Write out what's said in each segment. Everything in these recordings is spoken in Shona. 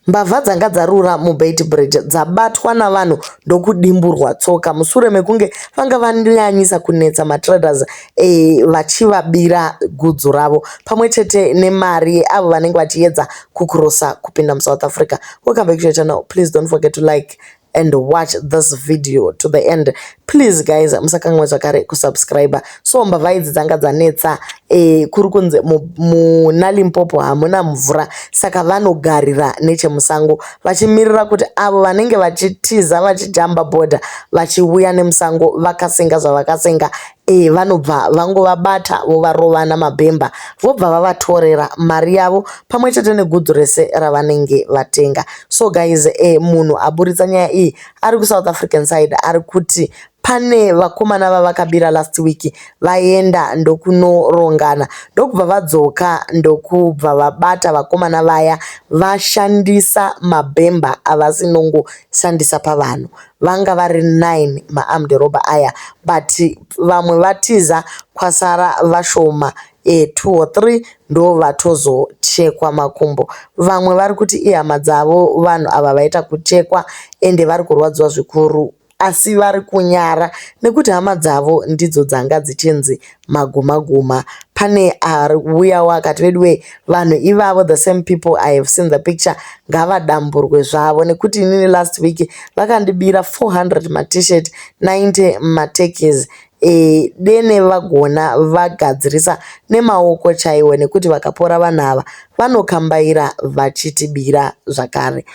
Mbavha dzanga dzarura muBeitbridge dzabatwa navanhu ndokudimburwa tsoka mushure mekunge vanga vanyanyisa kunetsa matraders e, vachivabira gudzu ravo pamwe chete nemari yeavo vanenge vachiedza kucrossa kupinda muSouth Africa. Welcome back to your channel, please don't forget to like and watch this video to the end please guys musakanwe zvakare kusubscribe so mbavha idzi dzanga dzanetsa eh, kuri kunzi muna limpopo hamuna mvura saka vanogarira nechemusango vachimirira kuti avo vanenge vachitiza vachijamba bhodha vachiuya nemusango vakasenga zvavakasenga Eh, vanobva vangovabata vovarovana mabhemba vobva vavatorera mari yavo pamwe chete negudzu rese ravanenge vatenga so guys eh, munhu aburitsa nyaya iyi ari kusouth african side ari kuti pane vakomana vavakabira last week vaenda ndokunorongana ndokubva vadzoka ndokubva vabata vakomana vaya vashandisa mabhemba avasinongoshandisa pavanhu Vanga vari nine ma armed robber aya but vamwe vatiza kwasara vashoma ee two or three ndovatozochekwa makumbo. Vamwe vari kuti ihama dzavo vanhu ava vaita kuchekwa ende vari kurwadziwa zvikuru asi vari kunyara nekuti hama dzavo ndidzo dzanga dzichinzi maguma guma pane ariuyawo akati veduwee vanhu ivavo the same people i have seen the picture ngavadamburwe zvavo nekuti inini last week vakandibira 400 matshirt 90 matekis e, dene vagona vagadzirisa nemaoko chaiwo nekuti vakapora vanhu ava vanokambaira vachitibira zvakare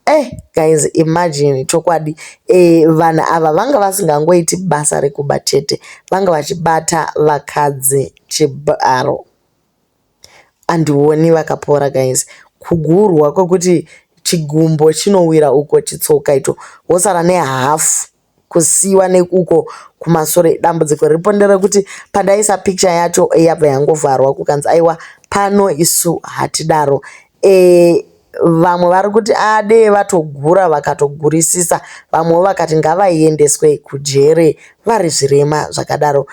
Eh guys imagine chokwadi eh, vanhu ava vanga vasingangoiti basa rekuba chete vanga vachibata vakadzi chibharo andioni vakapora guys kugurwa kwekuti chigumbo chinowira uko chitsoka ito wosara nehafu kusiiwa nekuko kumasure dambudziko riripo nderekuti pandaisa picture yacho yabva yangovharwa kukanzi aiwa pano isu hatidaro e, vamwe vari kuti adee vatogura vakatogurisisa vamwewo vakati ngavaiendeswe kujere vari zvirema zvakadaro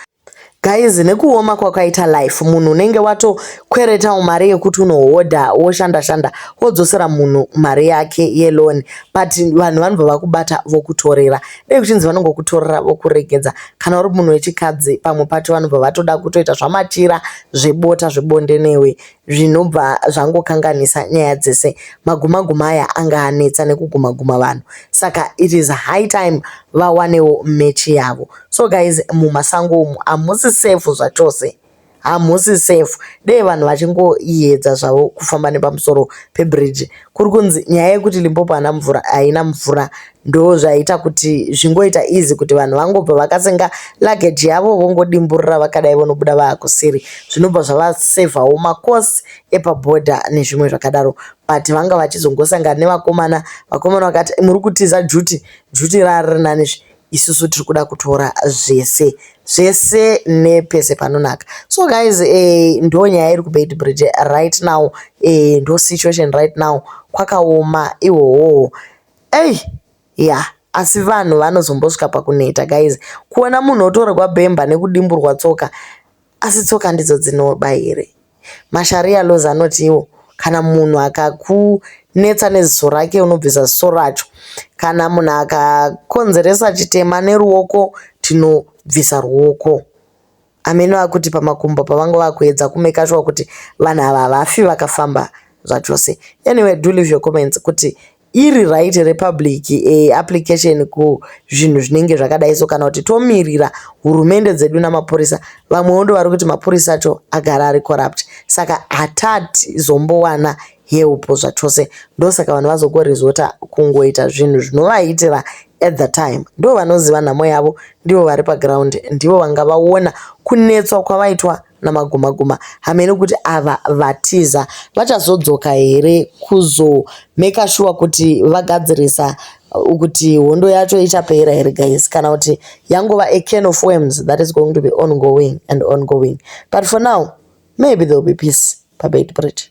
Guys nekuoma kwakaita life munhu unenge watokweretawo mari yekuti unohodha woshanda shanda wodzosera munhu mari yake yeloan but vanhu vanobva vakubata vokutorera dai kuchinzi vanongokutorera vokuregedza kana uri munhu wechikadzi pamwe pacho vanobva vatoda kutoita zvamachira zvebota zvebonde newe zvinobva zvangokanganisa nyaya dzese maguma guma aya anga anetsa nekuguma guma vanhu saka it is high time vawanewo mechi yavo so guys mumasango umu hamusi safe zvachose hamusi safe dei vanhu vachingoyedza zvavo kufamba nepamusoro pebridge kuri kunzi nyaya yekuti limpopo haina mvura haina mvura ndo zvaita kuti zvingoita easy kuti vanhu vangobva vakasenga luggage yavo vongodimburira vakadai vonobuda vaakusiri zvinobva zvavasevhawo makosi epabhodha nezvimwe zvakadaro but vanga vachizongosangana nevakomana vakomana vakati muri kutiza juti juti rariri nani zvi isusu tiri kuda kutora zvese zvese nepese panonaka so guys eh, ndo nyaya iri kubeit bridge right now eh, ndo situation right now kwakaoma ihohoho Ey yeah asi vanhu vanozombosvika pakuneta guys kuona munhu otorwa bhemba nekudimburwa tsoka asi tsoka ndidzo dzinoba here masharia laws anotiwo kana munhu akakunetsa neziso rake unobvisa ziso racho kana munhu akakonzeresa chitema neruoko tinobvisa ruoko Ameno akuti pamakumbo pavanga vakuedza kumeka shuwa kuti vanhu ava havafi vakafamba zvachose. Anyway, do leave your comments kuti iri right here public eh, application kuzvinhu zvinenge zvakadai so kana kuti tomirira hurumende dzedu namapurisa vamwewo ndo vari kuti mapurisa acho agara ari corrupt saka hatati zombowana Heupo zvachose ndosaka vanhu vazokorizota kungoita zvinhu zvinovaitira at the time ndivo vanoziva nhamo yavo ndivo vari paground ndivo vanga vaona kunetswa kwavaitwa namaguma guma hameno kuti ava vatiza vachazodzoka here kuzomeka shuwa kuti vagadzirisa uh, kuti hondo yacho ichapera here guys kana kuti yangova a can of worms that is going to be ongoing and ongoing but for now maybe there will be peace pabed bridge